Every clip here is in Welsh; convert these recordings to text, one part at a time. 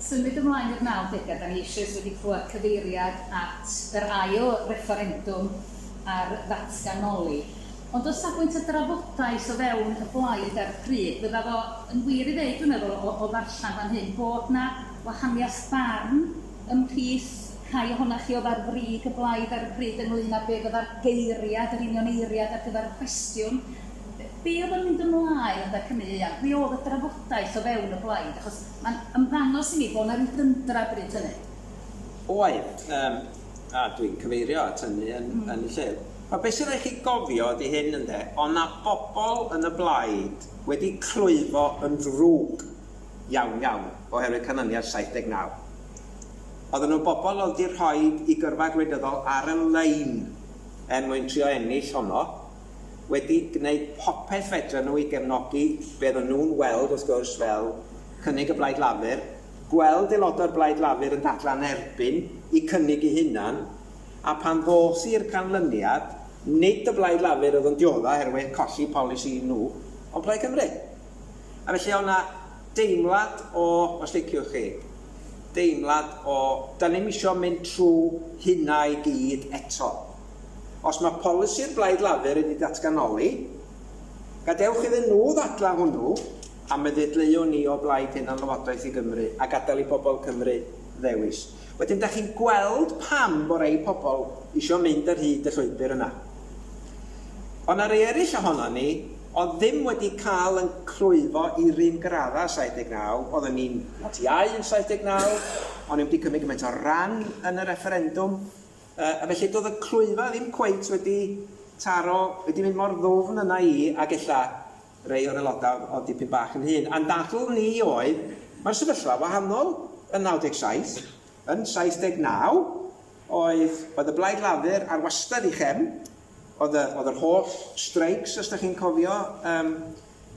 Symud ymlaen i'r nawdegau, dan ni eisoes wedi clywed cyfeiriad at yr ail refferendwm ar ddatganoli, ond o safbwynt y drafodaeth o fewn y blaid ar y pryd, fydda fo yn wir i ddeud, dwi'n meddwl, o o ddarllen fan hyn, bod 'na wahaniaeth barn ymhlith rhai ohonoch chi oedd ar frig y blaid ar y pryd ynglŷn â be fydda'r geiriad, yr union eiriad ar gyfer y cwestiwn, be oedd yn mynd ymlaen yn Dacw Ny Ieuan, be oedd y drafodaeth o fewn y blaid, achos mae'n ymddangos i mi bod yna ryw dundra bryd hynny. Oedd, yym, a dwi'n cyfeirio at hynny yn yn y llyfr. Ond be sy'n rhaid chi gofio ydi hyn, ynde, oedd 'na bobl yn y blaid wedi clwyfo yn ddrwg iawn, iawn, oherwydd canlyniad 79. Oedden nhw'n bobl oedd wedi rhoi eu gyrfa gwleidyddol ar y lein er mwyn trio ennill honno. wedi gwneud popeth fedren nhw i gefnogi be ro'n nhw'n weld, wrth gwrs, fel cynnig y Blaid Lafur, gweld aelodau'r Blaid Lafur yn dadlau'n erbyn eu cynnig eu hunan, a phan ddos i'r canlyniad, nid y Blaid Lafur oedd yn dioddef oherwydd colli polisi nhw, ond Plaid Cymru. A felly oedd yna deimlad o, os liciwch chi, deimlad o, 'dan ni'm isio mynd trwy hynna i gyd eto. Os mae polisi'r Blaid Lafur wedi datganoli, gadewch iddyn nhw ddadlau hwnnw a mi ddedleuwn ni o blaid hunanlywodraeth i Gymru a gadael i bobl Cymru ddewis. Wedyn dach chi'n gweld pam fo rei pobl isio mynd ar hyd y llwybr yna. O na rei eraill ohonon ni oedd ddim wedi cael yn clwyfo i'r un graddau yn 79, oedden ni'n Ti Ai yn 79, o'n ni wedi cymryd gymaint o ran yn y refferendwm, Yy, a felly do'dd y clwyfa ddim cweit wedi taro, wedi mynd mor ddwfn yna i, ag ella rei o'r aeloda' o'dd o'dd dipyn bach yn hŷn. A'n dadl ni oedd, ma'r sefyllfa wahanol yn 97, yn 79 oedd oedd y Blaid Lafur ar wastad 'i chefn, o'dd y o'dd yr holl streics os 'dach chi'n cofio yym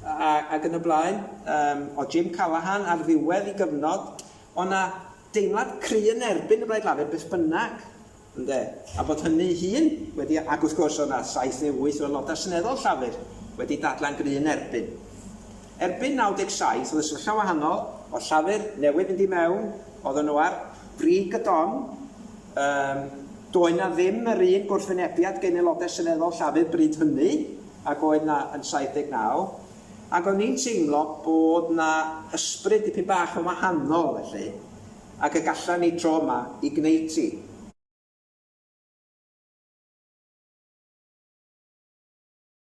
a ag yn y blaen, yym o'dd Jim Callaghan ar ddiwedd 'i gyfnod, o' 'na deimlad cry yn erbyn y Blaid Lafur beth bynnag, ynde, a bod hynny'i hun wedi, ac wrth gwrs oedd 'na saith neu wyth o Aelodau Seneddol Llafur wedi dadlau'n gry yn erbyn. Erbyn 97 oedd y sefyllfa'n wahanol, oedd Llafur newydd fynd i mewn, oedden nhw ar brig y don, yym, doedd 'na ddim yr un gwrthwynebiad gen Aelodau Seneddol Llafur bryd hynny ag oedd 'na yn 79, Ac o'n i'n teimlo bod 'na ysbryd dipyn bach yn wahanol felly, ac y galla ni tro yma i gneud ti.